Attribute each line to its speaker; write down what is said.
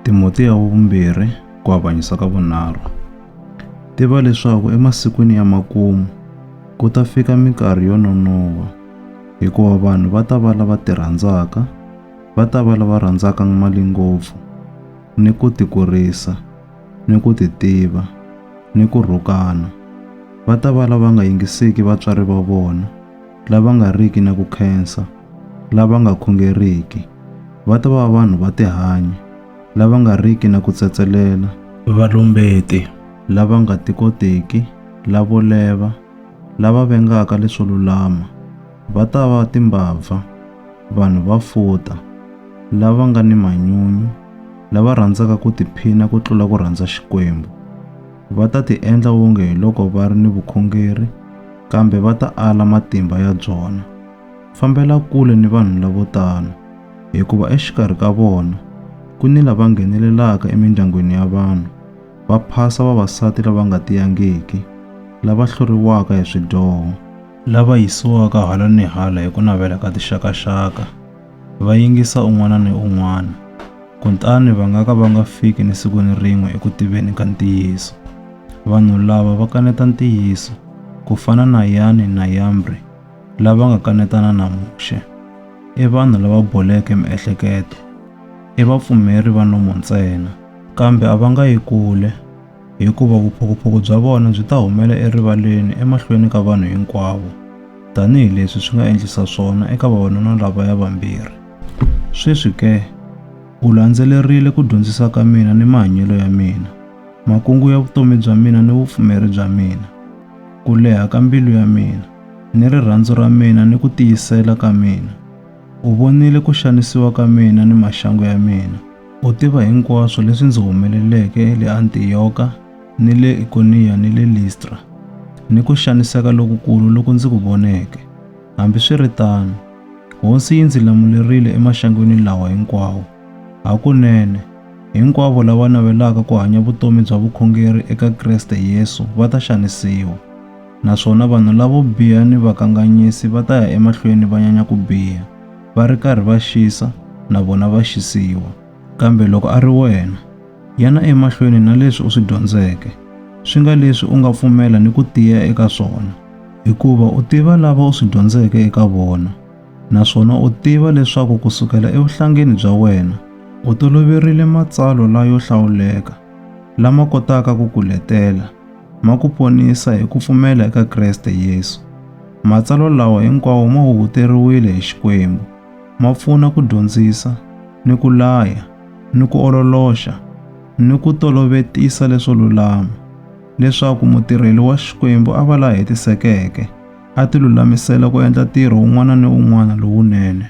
Speaker 1: Timote ya vumbirhi ku avanyisa ka vunharhu. Tiva leswaku emasikwini ya makumu ku ta fika minkarhi yo nonova hikuva vanhu va ta va lava ti rhandzaka, va ta va lava rhandzaka mali ngopfu, ni ku ti kurisa, ni ku ti tiva, ni ku rhukana. Va ta va lava nga yingisiki vatswari va vona, lava nga riki na ku khensa, lava nga khongeriki va ta va vanhu va tihanyi, lava nga riki na ku tsetselela, valumbeti, lava nga tikotiki, lavo leva, lava vengaka leswo lulama, va ta va timbabva, vanhu va futa, lava nga ni manyunyu, lava rhandzaka ku tiphina ku tlula ku rhandza Xikwembu. Va ta tiendla wonge hiloko va ri ni vukhongeri, kambe va ta ala matimba ya byona. Fambela kule ni vanhu lavo tano, hikuva exikarhi ka vona ku ni lava nghenelelaka emindyangwini ya vanhu, va phasa vavasati lava nga tiyangiki, lava hluriwaka hi swidyoho, lava yisiwaka hala ni hala hi ku navela ka tixaka-xaka, va yingisa un'wana ni un'wana, kutani va nga ka va nga fiki ni siku ni rin'we eku tiveni ka ntiyiso. Vanhu lava va kaneta ntiyiso, ku fana na Yane na Yambre. lava nga kanetana na Muxe i vanhu lava boleke miehleketo, i vapfumeri va nomo ntsena. Kambe a va nga yi kule, hikuva vuphukuphuku bya vona byi ta humela erivaleni emahlweni ka vanhu hinkwavo, tanihi leswi swi nga endlisa swona eka vavanuna lavaya vambirhi. Sweswi ke, u landzelerile ku dyondzisa ka mina ni mahanyelo ya mina, makungu ya vutomi bya mina ni vupfumeri bya mina, ku leha ka mbilu ya mina, ni rirhandzu ra mina ni ku tiyisela ka mina. U vonile ku xanisiwa ka mina ni maxangu ya mina. U tiva hinkwaswo leswi ndzi humeleleke le Antiyoka ni le Ikoniya ni le Listra, ni ku xaniseka lokukulu loku ndzi ku voneke. Hambiswiritano, Hosi yi ndzi lamulerile emaxangwini lawa hinkwawo. Hakunene, hinkwavo lava navelaka ku hanya vutomi bya vukhongeri eka Kreste Yesu va ta xanisiwa. Naswona vanhu lavo biha ni vakanganyisi va ta ya emahlweni va nyanya ku biha, va ri karhi va xisa, na vona va xisiwa. Kambe loko a ri wena, yana emahlweni na leswi u swi dyondzeke, swi nga leswi u nga pfumela ni ku tiya eka swona, hikuva u tiva lava u swi dyondzeke eka vona, naswona u tiva leswaku ku sukela evuhlangeni bya wena u toloverile matsalwa layo hlawuleka, lama kotaka ku ku letela ma ku ponisa hi ku pfumela eka Kreste Yesu. Matsalwa lawa hinkwawo ma huhuteriwile hi Xikwembu, ma pfuna ku dyondzisa, ni ku laya, ni ku ololoxa, ni ku tolovetisa leswo lulama, leswaku mutirheli wa Xikwembu a va la hetisekeke, a tilulamisela ku endla ntirho wun'wana ni wun'wana lowunene.